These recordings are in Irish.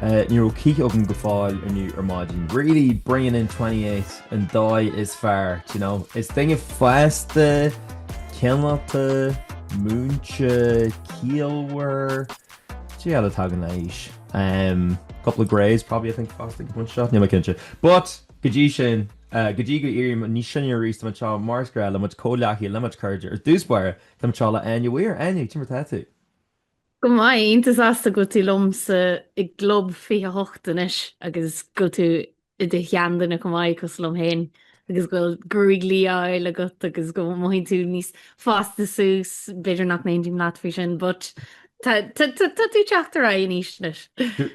Ní raibh cith agam go fóill inniu ar maidin. Really bringing in 28 an dóigh is fearr, do you know. Is duine fásta, cineálta, múinte, ciallmhar. Cad é eile a tagann leis? Umm, couple of greys probably I think fásta ag an bpointe seo, níl mé cinnte. But, go dtí sin, go dtí go éirím níos sine arís, tá mé anseo mar is gnáth le mo chuid comhghleacaithe, le mo chuid cairde. Ar dtús báire, tá mé anseo le Áine Weir. Áine, cad é mar atá tú? Go maith, iontach sásta go bhfuil tú liomsa i gClub 28 anois agus go bhfuil tú i do sheanduine chomh maith cosúil liom féin agus go bhfuil gruaig liath á fháil agat agus go mothaíonn tú níos fásta suas, b'fhéidir nach n-aontaím leat faoi sin but tá tú ag teacht ar aghaidh in aois anois.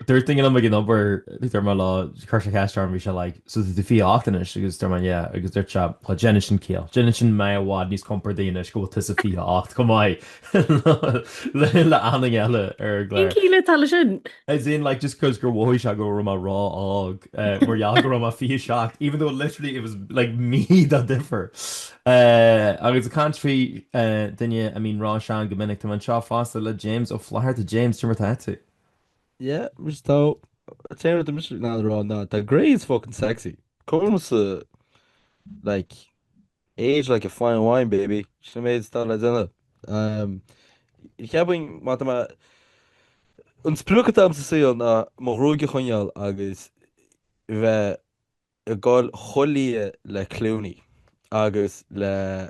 Dúirt duine liom ag an obair dúirt mé leo, chuir sé ceist orm bhí sé like so tá tú 28 anois agus dúirt mé yeah agus dúirt sé well déanann sin ciall, déanann sin mé i bhfad níos compordaí anois go bhfuil tusa 28 chomh maith liom le aon duine eile ar an gclár. Cén chiall atá leis sin? As in like just cuz gur mhothaigh sé go raibh mé ró-óg mar gheall go raibh mé 27 even though literally it was like mí de dhifear. Agus ag caint ar dhuine a mbíonn róshean go minic tá mé anseo fosta le James Ó Flatharta James cad é mar atá tú? Yeah mise atá. Is é an rud atá mise ag leanúint a rá ná tá grey is fucking sexy. Cos like Age like a fine wine baby, sin an méid is atá le déanamh. Cheapfainn mar tá mé, an sprioc atá agam sa saol ná mo ghruaig a choinneáil agus bheith ag dul chomh liath le Clooney agus le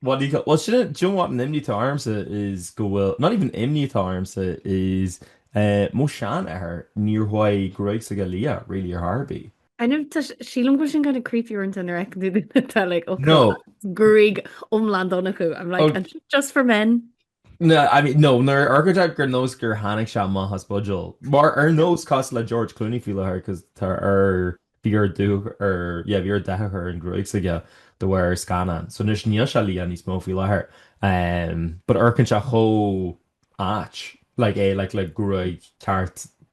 what do you call well shouldn't do you know what an imni to arms is go will not even imni to arms is uh mo shan at her near why great to get leah really your harby I know she long was gonna creep you into her tell like okay no Greg omland on who I'm like okay. just for men No, nuair a amharcann sé ar nós gur tháinig sé amach as buidéal. Mar ar nós cosúil le George Clooney faoi láthair cos tá ar bhí air dúch ar yeah bhí air dath a chur ar an ghruaig s'aige de bharr ar scannán. So anois níl sé liath níos mó faoi láthair. Um, but amharcann sé chomh ait like é like le gruaig ceart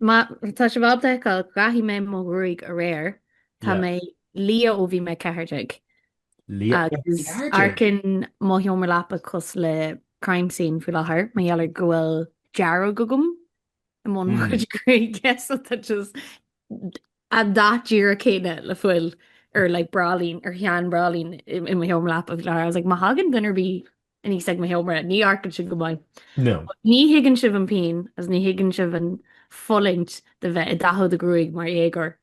Má tá sibh ábalta a fheiceáil, dhathaigh mé mo ghruaig aréir. Tá mé liath ó bhí mé 14. Agus amharcann mo sheomra leapa cosúil le crime scene faoi láthair mar gheall ar go bhfuil dearg agam i mbun mo chuid gruaige so tá sé just an dath díreach céanna le fuil ar like bráillín, ar shean bhráillín i mo sheomra leapa faoi láthair. I was like má thagann duine ar bith aníos ag mo sheomra, ní amharcann sin go maith. No. Ní thuigeann sibh an pian agus ní thuigeann sibh an fulaingt de bheith ag dathú do ghruaig mar dhéagóir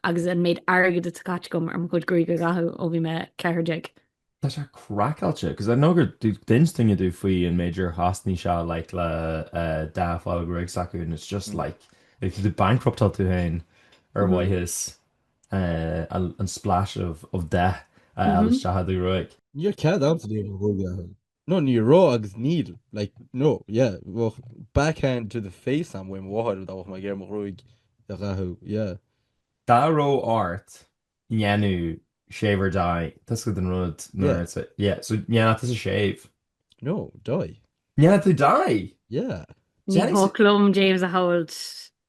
agus an méid airgid atá caite agam ar mo chuid gruaig a dhathú ó bhí mé 14. Tá sé craiceáilte cos I know gur d'inis duine domh faoi an méid ar chosnaigh sé like le dath a fháil ar ghruaig s'acu and it's just like, like tú ag bankruptáil tú féin ar mhaithe is. an splash of of dath a fháil isteach i do ghruaig. Níl cead a'msa de bharr m'athair. No ní raibh agus níl like no yeah bheadh back hand to the face a'm ó mo mháthair dá bheadh mé ag iarraidh mo ghruaig a dhathú yeah. Dá raibh ort an ndéanfá shave or dye tusa den rud no yeah so an ndéanfadh tusa shave. No dye. Ndéanfadh tú dye? Yeah. Ní thig liom James a shamhlú.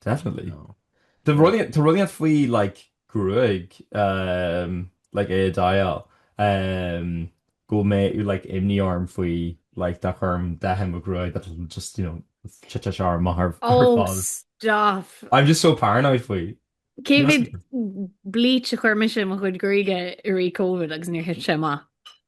Definitely. No. Tá rud éint tá rud éint faoi like gruaig ehm like é a dye-áil ehm go mbeadh like imní orm faoi like dá gcuirim dath i mo ghruaig that will just you know go dtitfidh sé amach ar Oh fad. stop! I'm just so paranoid faoi. Cé He must mhéad be bleach a chuir mise i mo chuid gruaige i rith covid agus níor thit sé amach?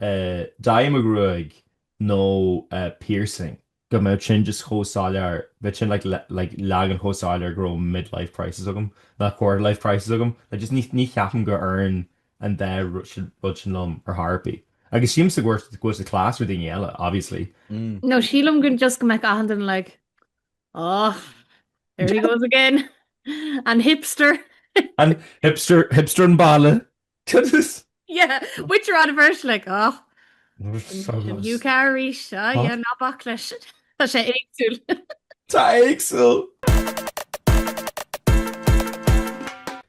dye i mo ghruaig nó piercing go mbeadh sin just chomh soiléir, bheadh sin like leagan chomh soiléir go raibh mid-life crisis agam, nó quarter-life crisis agam, like just ní ní cheapaim gur oireann an dá rud sin liom ar chor ar bith. Agus sílimse go bhfuil go bhfuil sé class ar dhaoine eile obviously. Nó sílim go just go mbeadh achan duine like oh there he goes again, an hipster. An hipster, hipster an bhaile. Cad is? Yeah, which are on a version like, oh, sin é arís, oh yeah, ná bac leis. Tá sé éagsúil. Tá éagsúil!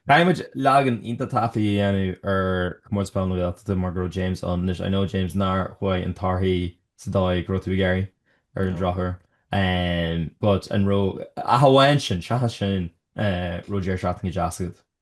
Táimid ag ligean don taifeadadh a dhéanamh ar Chomórtas Peil na Gaeltachta mar go raibh James ann anois. I know James nár chuaigh na torthaí sa dóigh go raibh tú ag iarraidh ar an drochuair but an raibh, ach amháin sin, seachas sin raibh deireadh seachtaine deas agat.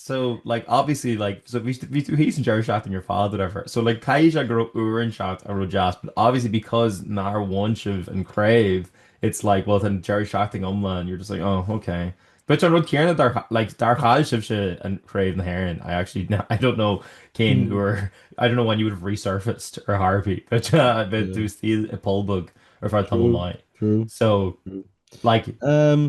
So like obviously like so bhí tú bhí tú thíos an deireadh seachtaine ar fad whatever so like caithfidh sé go raibh uaireanta ann a raibh deas but obviously because nár bhain sibh an craobh it's like well tá an deireadh seachtaine iomlán you're just like oh ok. But an rud céanna dá like dá chaill sibhse an Chraobh na hÉireann I actually kn- I don't know cén Mm. uair I don't know when you would have resurfaced ar chor ar bith but uh, bheadh Yeah. tú still i bpoll bog ar feadh tamall True. maith. True. So True. like Um,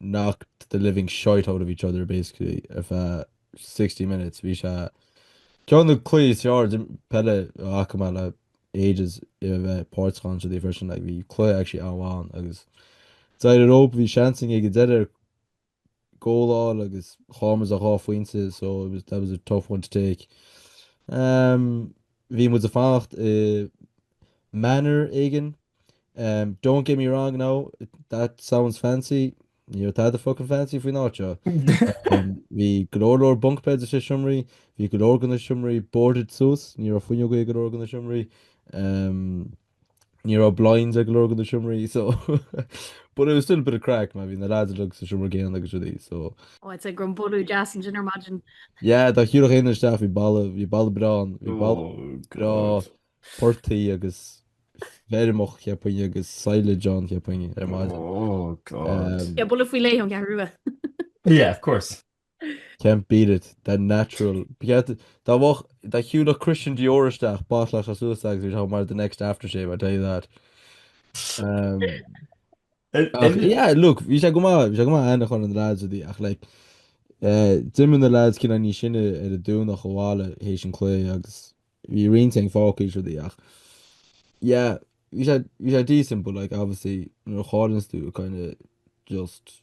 knocked the living shite out of each other basically ar feadh 60 minutes. Bhí sé ceann de na cluichí is fearr peile a chonaic mé le ages i a bheith páirteach ann freisin. Like bhí cluiche actually an-mhaith ann agus d'éirigh an rub, bhí seans againn ag an deireadh ar goal a fháil agus chaill muid le dhá phointe so it was, that was a tough one to take. Um. Bhí muid ag fanacht i Manor éigin. Don't get me wrong now, that sounds fancy, ní raibh tada fucking fancy faoin áit seo. Bhí go leor leor bunk beds sna seomraí, bhí go leor de na seomraí boarded suas, ní raibh fuinneoga ag go leor de na seomraí. Ní raibh blinds ag go leor de na seomraí so but it was still a bit of crack mar bhí na lads uilig sa seomra céanna agus rudaí so. Oh I'd say go raibh an boladh deas ansin ar maidin. Yeah dá shiúlfadh éinne isteach bhí boladh bhí boladh breá ann bhí boladh breá portaigh agus feirmeach cheapfainn agus silage ann cheapfainn ar maidin. Oh god. Yeah boladh faoi leith ón gCeathrú Rua. Yeah of course. Can't beat it, that natural. Beat- Dá bhfágh- dá shiúlfadh Christian Dior isteach bottlefadh sé suas é agus we'd have mar the next aftershave, I tell you that. Um, In- ach, in- yeah, look, bhí sé go maith, bhí sé go maith aithne a chur ar na lads is rudaí, ach, like, eh, d'imigh na lads cineál níos sine ar an Domhnach abhaile théis an chluiche agus bhí roinnt againn fágtha is rudaí, ach, yeah, bhí sé, bhí sé decent, but, like, obviously, nuair a chailleanns tú, it kind of just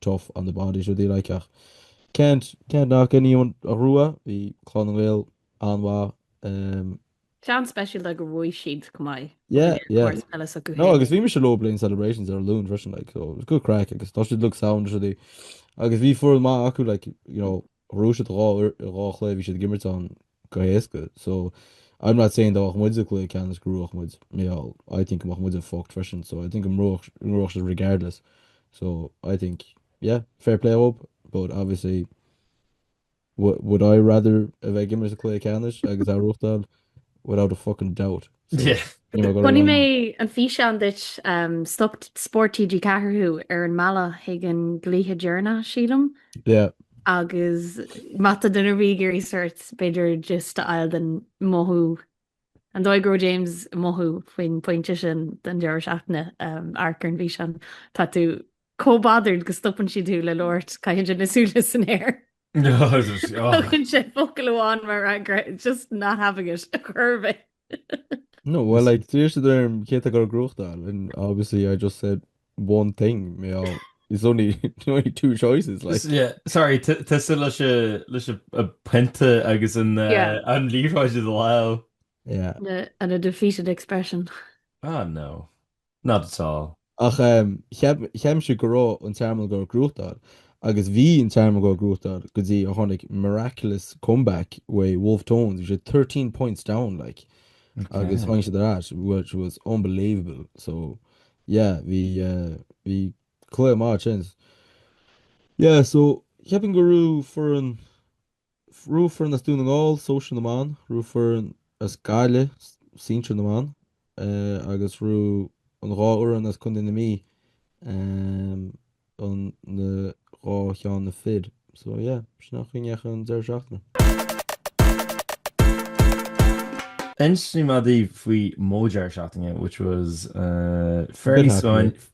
tough on the body is rudaí like ach can't can't knock anyone a ghnóthaigh bhí Clann na nGael an-mhaith ehm. Cineál speisialta gur bhuaigh siad chomh maith yeah yeah ag comórtas peile s'acu féin. No agus bhí mise leob le haghaidh na celebrations ar an Luan freisin like so it was good crack agus tá siad like sound is rudaí agus bhí foireann maith acu like you know. Ghnóthaigh siad dhá uair i dhá chluiche a bhí siad ag imirt ann go héasca so I'm not saying dá mbeadh muid sa chluiche ceannais go ngnóthódh muid mar I think go mbeadh muide fucked freisin so I think go ngnóthódh ngnóthódh siad regardless so I think yeah fair play dhóib but obviously would I rather a bheith ag imirt sa chluiche ceannais agus é a ghnóthachtáil without a fucking doubt. Chonaic mé an físeán duit um, stop Spórt TG4 thú ar an mbealach chuig an gcluiche deireanach, sílim. Yeah. Agus má tá duine ar bith ag iarraidh sort b'fhéidir just a fháil den mothú an dóigh a raibh James ag mothú faoin pointe sin den deireadh seachtaine um, amharc ar an físeán tá tú Chomh bothered go stopann siad thú le labhairt, caitheann sé na súile san aer. Tugann sé focal amháin mar fhreagra, just not having it, ar chor ar bith. No, well, like, d'iarr siad orm cé atá ag goil ag gnóthachtáil and obviously I just said one thing, mar, there's only, there's only two choices, like. S- yeah, sorry, t- tusa leis an, leis an, an pionta agus an, uh, Yeah. an liathróid i do lámh. Yeah. Na- an a defeated expression. Ah, no. Not at all. Ach cheap cheap mise go raibh an Tearmann ag goil ag gnóthachtáil agus bhí an Tearmann ag goil ag gnóthachtáil go dtí a tháinig miraculous comeback uaidh Wolfe Tones bhí siad thirteen points down like agus tháinig siad ar ais which was unbelievable so yeah bhí bhí cluiche maith ansin yeah so cheapfainn go raibh foireann raibh foireann as Dún na nGall, sóisear na mban, raibh foireann as Gaillimh, sinsir na mban, agus raibh an dhá fhoireann as Contae na Mí, an dhá cheann na fir. So yeah, b'shin an choiníoch an deireadh seachtaine. Inseoidh mé daoibh faoi mo dheireadh seachtaine which was fairly scoir.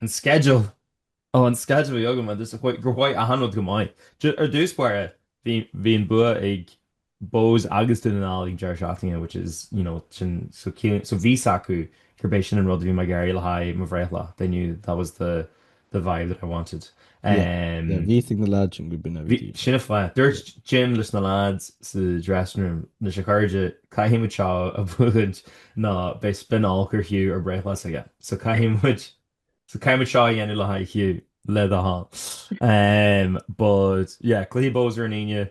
An schedule! Ó, an schedule a bhí agam agus gur mhaith achan rud go maith. Ar dtús báire, bhí an bua ag Bohs agus Dún na nGall ag an deireadh seachtaine which is, you know, sin, so ciallaíonn, so bhí 's acu gurb é sin an rud a bhí mé ag iarraidh le haghaidh mo bhreithlá, they knew that was the, the vibe that I wanted. Um, yeah, bhí a fhios ag na lads sin gurb in a bhí. Sin an fáth. Dúirt Jim leis na lads sa dressing room anois a chairde caithfidh muid seo a bhuachaint ná beidh spinál gur Hugh ar bhreithlá s'aige. So caithfidh muid so caithfidh muid seo a dhéanamh le haghaidh Hugh le do thoil. Um, but yeah, cluiche Bohs ar an Aoine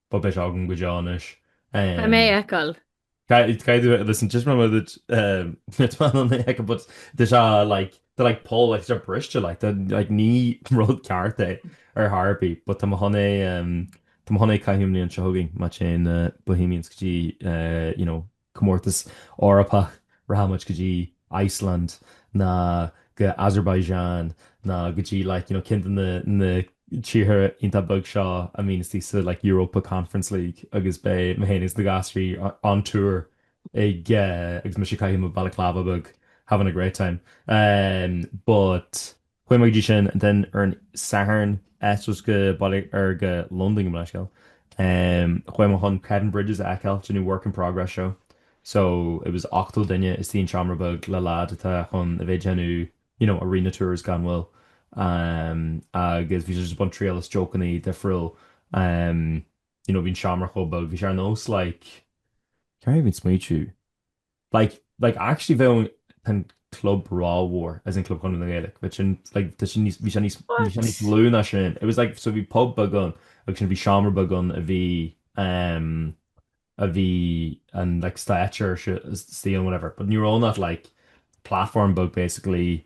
But beidh sé agam go deo anois. Caithfidh mé é a fheiceáil. Caithfidh mé, listen, taispeánfaidh mé duit, duit mé ná mé ag fheiceáil but tá sé like, tá like poll, like tá sé briste like, tá like ní rud ceart é ar chor ar bith but tá mé chun é, tá mé chun é a chaitheamh an bhliain seo chugainn, má téann Bohemians go dtí you know, comórtas Eorpach, rachaidh muid go dtí Iceland ná go Azerbaijan ná go dtí like you know ceann de na na tíortha iontach beag seo a mbíonn istigh sa like Europa Conference League agus beidh mé féin agus na gasraí on tour ag agus mise ag caitheamh mo balaclava beag having a great time um but Chuaigh mé i ndiaidh sin then ar an Satharn eitilt go Baile ar go Londain gabh mo leithscéal em chuaigh mé chun Kevin Bridges a fheiceáil ag déanamh work in progress show so it was 80 duine istigh i seomra beag le lead atá chun a bheith ag déanamh you know arena tours gan mhoill em agus bhí sé just ag baint triail as jokeannaí difriúil em you know bhí an seomra chomh beag bhí sé ar nós like can't even smaoitiú Like like actually bheadh an an club rómhór as in Club Chonradh na Gaeilge bheadh sin like tá sin níos bhí sé níos bhí sé What? níos lú ná sin it was like so bhí pub beag ann agus ansin bhí seomra beag ann a bhí ehm a bhí an like stáitse is- istigh ann whatever but ní raibh ann ach like platform bheag basically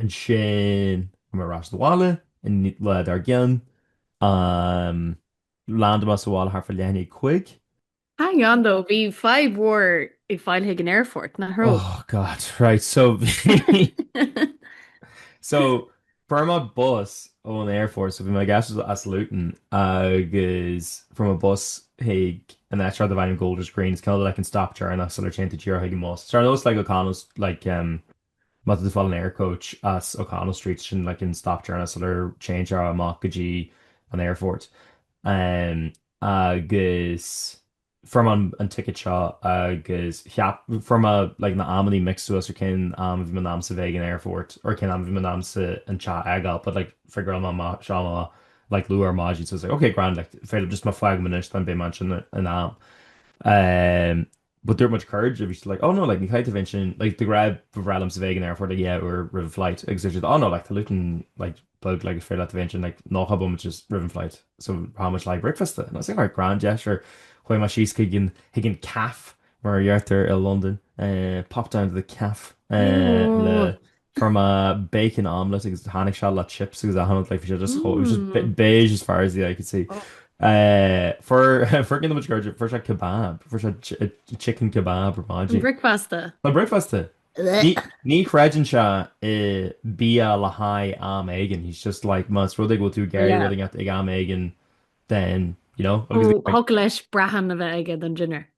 Ansin tháinig mé ar ais abhaile an lá dár gcionn. Landáil mé sa bhaile thart fá leath i ndiaidh a cúig. Hang on though, bhí fadhb mhór ag fáil chuig an aerfort, nach raibh? Oh god, right, so bhí. So, fuair mé bus ón aerfort, so bhí mé ag eitilt as Luton agus fuair mé bus chuig an áit seo darb ainm Golders Green, it's kind of like an stop deireanach sular téann tú díreach chuig an mbus. So ar nós like O'Connell's, like, um, Má tá tú ag fáil an Aircoach as O'Connell Street sin like an stop deireanach sular téann sé amach go dtí an aerfort. Agus fuair mé an ticket seo agus fuair mé like na amannaí mixed suas ar cén am a bhí mé in ainm is a bheith ag an aerfort or cén am a bhí mé in ainm is an teach a fhágáil but like figure mé amach seo like luath ar maidin so I was like okay grand like b'fhéidir just má fágaim anois then beidh mé ansin in am. but dúirt mo chuid cairde bhí siad like oh no like ní chaithfidh tú bheith ansin like mar ba bhreá liomsa bheith ag an aerfort like dhá uair roimh an flight agus dúirt siad oh no like tá Luton like beag like is féidir leat a bheith ansin like nócha nóiméad just roimh an flight so chaith muid like bricfeasta and I was like alright grand yeah sure chuaigh muid síos chuig an chuig an caf mar a deirtear i Londain eh, popped down to the caf eh, le Fuair mé bacon omelette agus tháinig sé le chips agus a shailéad like bhí sé just chomh it was just be- beige as far as the eye could see. Eh, fuair fuair duine de mo chuid cairde fuair sé kebab fuair sé chi- eh, chicken kebab ar maidin. Bricfeasta. Tá bricfeasta. Ní ní chreideann sé i bia le haghaidh am éigin he's just like más rud é go bhfuil tú ag iarraidh Yeah. rud ag at- ag am éigin then you know agus Ó, thug leis brachán a bheith aige don dinner.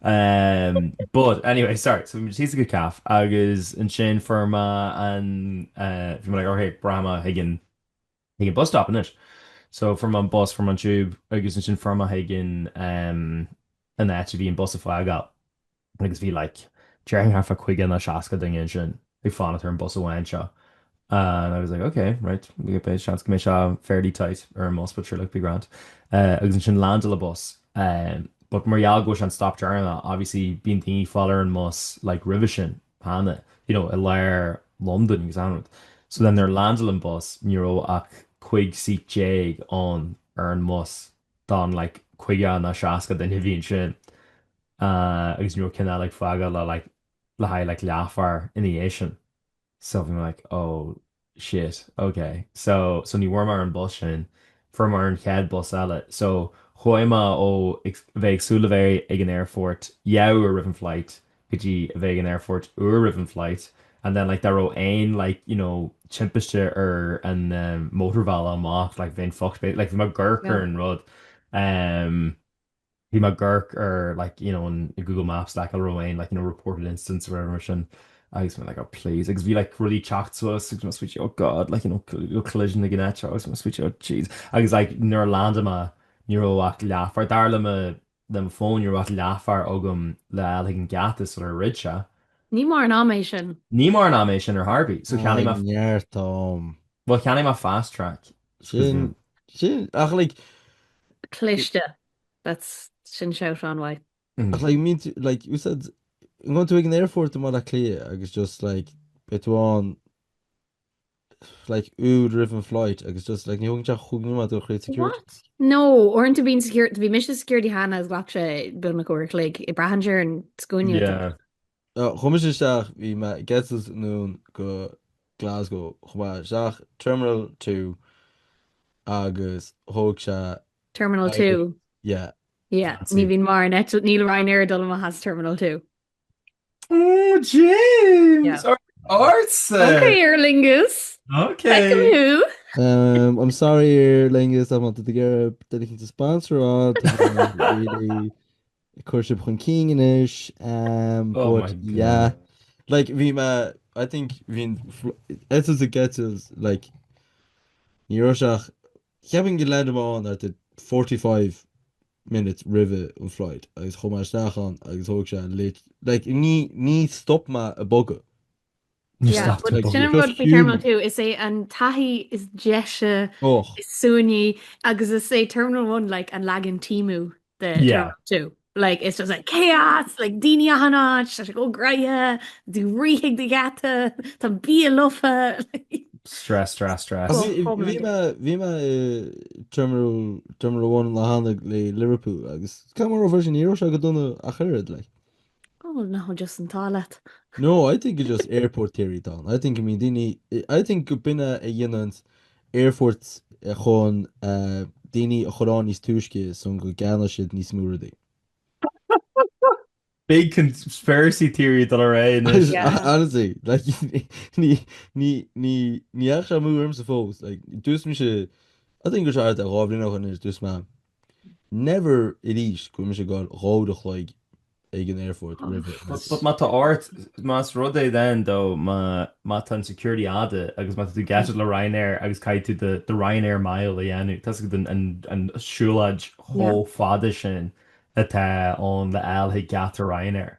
Um, but anyway, sorry, so bhí mé thíos ag an caf agus ansin fuair mé an uh, bhí mé like, okay, breathnóidh mé chuig an chuig an bus stop anois. So fuair mé an bus fuair mé an tube agus ansin fuair mé chuig an um, an áit a bhí an bus ag fágáil agus bhí like, déarfainn thart faoi 50 nó 60 duine ansin. ag fanacht ar an bus amháin seo and I was like ok right beidh seans go mbeidh sé fairly tight ar an mbus but sure look be grand agus ansin landáil an bus but mar gheall gurb é sin an stop deireanach obviously bíonn daoine ag fáil ar an mbus like roimhe sin cheana you know i lár Londain agus an rud so then nuair a landáil an bus ní raibh ach 15 seat ann ar an mbus don like 50 nó 60 duine a bhí ansin agus ní raibh ceann eile ag fágáil le like le haghaidh like leathuair ina dhiaidh sin so bhí mé like oh shit ok so so ní bhfuair mé ar an bus sin fuair mé ar an chéad bus eile so chuaigh mé ó ag bheith ag súil a bheith ag an aerfort dhá uair roimh an flight go dtí a bheith ag an aerfort uair roimh an flight and then like dá raibh aon like you know timpiste ar an mótarbhealach amach like bheinn fucked like bhí mé ag amharc ar an rud um. Bhí mé ag amharc ar like you know an Google Maps like ag fáil roinnt like you know reported incidents or whatever mar sin agus mé like oh please agus bhí like rudaí ag teacht suas agus mé suite oh god like you know collision ag an áit seo agus mé suite oh jeez agus like nuair a landáil mé ní raibh ach leathuair dar le mo le mo phone ní raibh ach leathuair agam le fáil chuig an geata so ar fhrid sé. Ní mórán ama é sin. Ní mórán ama é sin ar Harvey so cheannaigh mé. Tá neart ann. Bhuel cheannaigh mé fast track. Sin, sin, ach like. Cliste. That's, sin sort of why. Ach like má tá tú, like you said, ag gabháil chuig an aerfort i mBaile Átha Cliath agus just like beidh tú ann like uair roimh an flight agus just like ní thógann sé cúig nóiméad gabháil tríd security. What? No, oireann tú bíonn security, bhí mise security cheana is ghlac sé b'fhéidir uair a chloig, braitheann sé ar an scuaine atá. Yeah. Chuaigh mise isteach, bhí mé ag eitilt anonn go Glasgow, chuaigh mé isteach Terminal two agus thóg sé. Terminal two? Yeah. Yeah, ní bhíonn mar ní, níl Ryanair ag dul amach as Terminal two. Oh James! Ársa! Ok Aer Lingus! Ok! Feicim thú! I'm sorry Aer Lingus, I wanted to get a dedicated sponsor on, really Ag cur sib chun cinn anois ehm Oh but my yeah god. like bhí me I think bhí'n fl- eitilt ag eitilt like ní raibh sé ach cheapfainn gur landáil mé ann at the 45 minutes roimh an flight agus chuaigh mé isteach ann agus thóg sé lit- like ní ní stop mé ag bogadh. Níor stop tú ag Sin an rud faoi Terminal two, is é an taithí is deise, is suaimhní, agus is é Terminal one like an leagan Temu de Terminal two. Like it's just like chaos, like daoine achan áit, tá sé chomh gnoitheach, tú ag rith chuig do gheata, tá bia lofa, like. Stress, stress, stress. Bhí mé i Terminal one le déanaí le Liverpool agus creid nó ná creid é, ní raibh sé go dona ach oiread, like. Oh well no bhí just an t-ádh leat. No I think it's just airport theory dom. I think I mean daoine I think go mb'in é a dhéanann aerfoirt chun daoine a chur ann níos túisce sa chaoi go gceannóidh siad níos mó rudaí. Big conspiracy theory do le ré anois. Yeah. Honestly like ní ní ní ní dheachaigh sé amú ormsa fós like dúirt mise I think go raibh sé thart ar dhá bhliain ó shin anois dúirt mé Never arís go raibh mise ann dhá uair a chloig ag an aerfort roimh ré. But má tá ort, más rud é then though má má tá an security fada agus má tá tú ag eitilt le Ryanair agus caithfidh tú do do Ryanair mile a dhéanamh, tá sé an an an siúlóid chomh fada sin atá ann le fháil chuig geata Ryanair.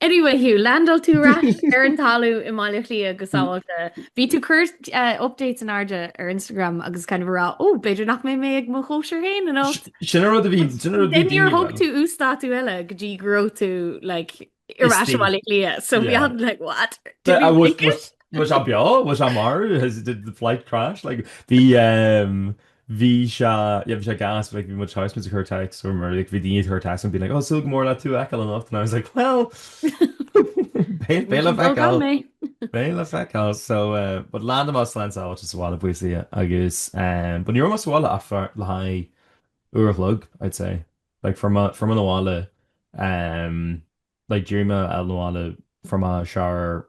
Anyway Hugh, landáil tú ar ais ar an talamh i mBaile Átha Cliath go sábhálta. Bhí tú ag cur eh, updates in airde ar Instagram agus kind of ag rá, ó, oh, b'fhéidir nach mbeidh mé ag mo chóisir féin anocht. Sin rud a bhí, sin rud a bhí. Níor thug tú uasdátú eile go dtí go raibh tú, like, ar ais i mBaile Átha Cliath. So we were like, what? Did he make it? Was he beo? Was he marbh? Has, did the flight crash? Like, bhí, um, Bhí sé, yeah, bhí sé gas, like, bhí muid thosaigh muid ag cur text, or whatever, like, bhí daoine ag cur text and being like, oh, súil go mór le tú a fheiceáil anocht, and I was like, well, beidh, beidh le feiceáil, so, eh, but landáil mé slán sábháilte sa bhaile buíochas le Dia, agus, eh, but ní raibh mé sa bhaile ach for le haghaidh uair a chloig, I'd say, like, fuair mé, fuair mé na bhaile, eh, like, d'éirigh mé out na bhaile, fuair mé shower,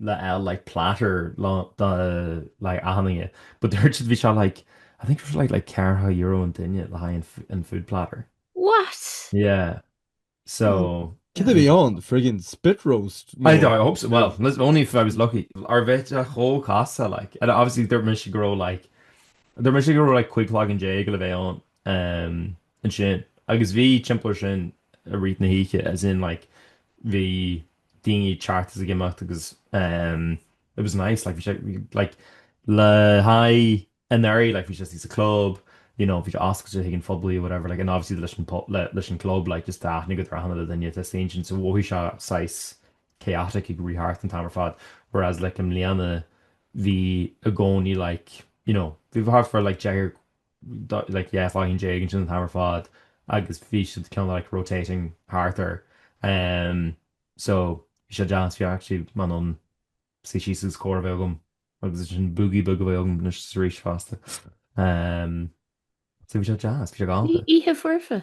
le L like platter le do like achan duine but dúirt siad bhí sé like I think it was like like ceathracha euro an duine le haghaidh an an food platter. What? Yeah so. Cad a bhí ann? Friggin spit roast? I No. I hope so well listen only if I was lucky or bheadh sé chomh casta like and obviously dúirt mise go raibh like dúirt mise go raibh like cúig cloigeann déag le bheith ann ehm ansin agus bhí timpeall air sin i rith na hoíche as in like bhí daoine ag teacht is ag imeacht agus ehm it was nice like bhí sé like le haghaidh anuraidh like bhí sé istigh sa club you know bhí sé oscailte chuig an phoiblí or whatever like and obviously leis an po- le- leis an gclub like just tá aithne agat ar achan duine atá istigh ansin so mhothaigh sé saghas chaotic ag rith thart an t-am ar fad whereas like i mbliana bhí i gcónaí like you know bhí thart fá like deichniúr like yeah fuckin' déag ansin an t-am ar fad agus bhí siad cineál like rotating thart air ehm so bhí sé deas bhí actually mé in ann suí síos agus comhrá a bheith agam agus ansin boogie beag a bheith agam anois is arís fosta ehm so bhí sé deas bhí sé galanta. Ní oíche foirfe?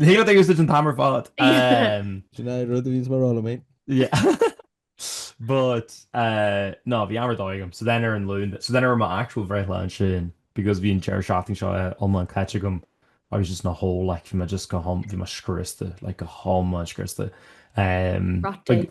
Níl ag úsáid an t-am ar fad. Sin é rud a bhíonns mé ag rá liom fhéin. Yeah. But uh, no, bhí am ar dóigh agam. So then ar an Luan, so then ar my actual bhreithlá ansin, because bhí an deireadh seachtaine seo eh, iomlán caite agam, I was just in a hole, like, bhí mé just go hiom-, bhí mé scriosta, like, go hiomlán scriosta. Um, Rotten.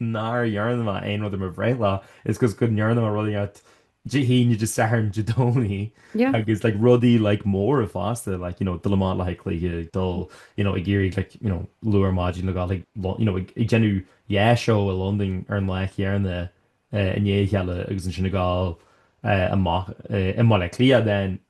nár dhearna mé aon rud ar mo bhreithlá is because go ndearna mé rudaí ar Dé hAoine, Dé Sathairn, Dé Domhnaigh Yeah. agus like rudaí like móra fosta like you know dul amach le haghaidh cluiche, ag dul you know ag éirí like you know luath ar maidin le gabháil ag lo- you know ag ag déanamh yeah show i Londain ar an lá chéarna eh, i ndiaidh a chéile agus ansin ag gabháil eh, amach eh, i mBaile Átha Cliath then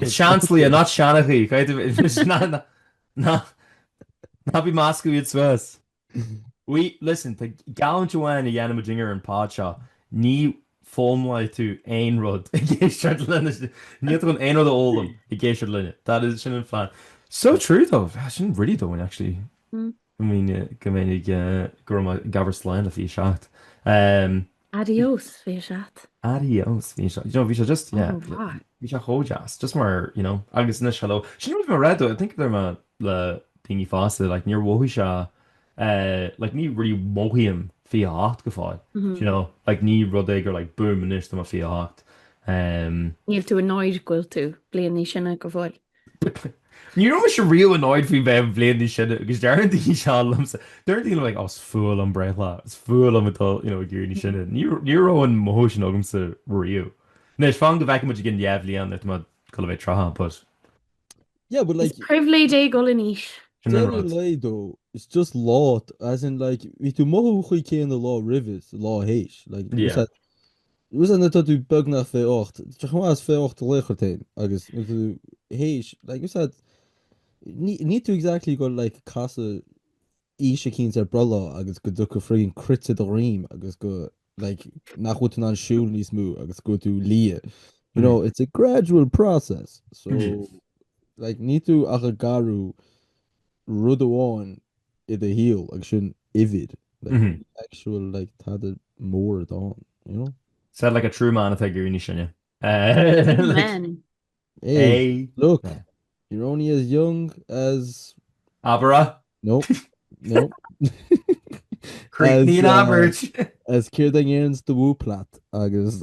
It's seansálaí, not seanchaí. Cad é do... Ná bí ag meascadh iad suas. Uí, listen, tá geallúint amháin a dhéanann muidinne ar an pod seo, ní fhoghlaimeoidh tú aon rud ag éisteacht linne. Níl tú chun aon rud a fhoghlaim ag éisteacht linne. That is, sin an fun. So true, though. Sin really domhain, actually. I mean go minic go raibh mé gabhar slán le 27. Adiós 27. Adiós 27. You know, bhí sé just, yeah, Oh, fuck. bhí sé chomh deas, just mar, you know, agus anois hello. Sin rud mar rud, I think deirim le daoine fosta, like níor mhothaigh sé, eh, like ní really mhothaím 28 go fóill, do you know, like ní rud é gur like boom anois tá mé 28. Em, Níl tú annoyed go bhfuil tú bliain níos sine go fóill. Ní raibh mise riamh annoyed faoi bheith bliain níos sine agus deireann daoine seo liomsa, deireann daoine like oh is fuath liom breithlá, is fuath liom ag dul you know ag éirí níos sine. Ní ní raibh an mothú sin agamsa riamh. Anois fan go bhfeicfidh muid i gceann dhá bhliain nuair atá mé ag goil a bheith tríocha but Yeah but Is like pribhléid é dhul in aois. sin an deireadh rud. lae though it's just lá as in like bhí tú ag mothú an chaoi chéanna lá roimhe is lá th'éis like Yeah. Usa nuair atá tú beagnach fiche ocht, tá chomh maith is fiche ocht laochra féin agus nuair atá tú th'éis like usa ní níl tú exactly go like casadh aois eicínt ar bhreithlá agus go dtiocfadh friggin cruit i do dhroim agus go like nach bhfuil tú in ann siúl níos mó agus go bhfuil tú liath you know it's a gradual process so like níl tú ach ag athrú rud amháin i do shaol agus sin uimhir like an actual like tada mór ann you know? Said like a true man atá ag éirí níos sine. Amen. Hey, Hey. look, you're only as young as Abair é. no, no, Críochnaigh as, uh, abairt. as céard a ndeireanns do mhúplat agus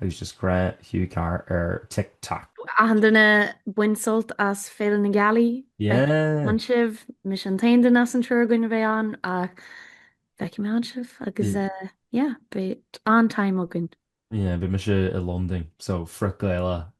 agus just grá Hugh Carr ar Tik Tok. Achan duine bain sult as Féile na Gealaí, má théann sibh, mise an t-aon duine as an triúr againn a bheidh ann ach feicfidh mé ann sibh agus yeah, beidh an-time againn. Yeah, beidh mise i Londain so frig Féile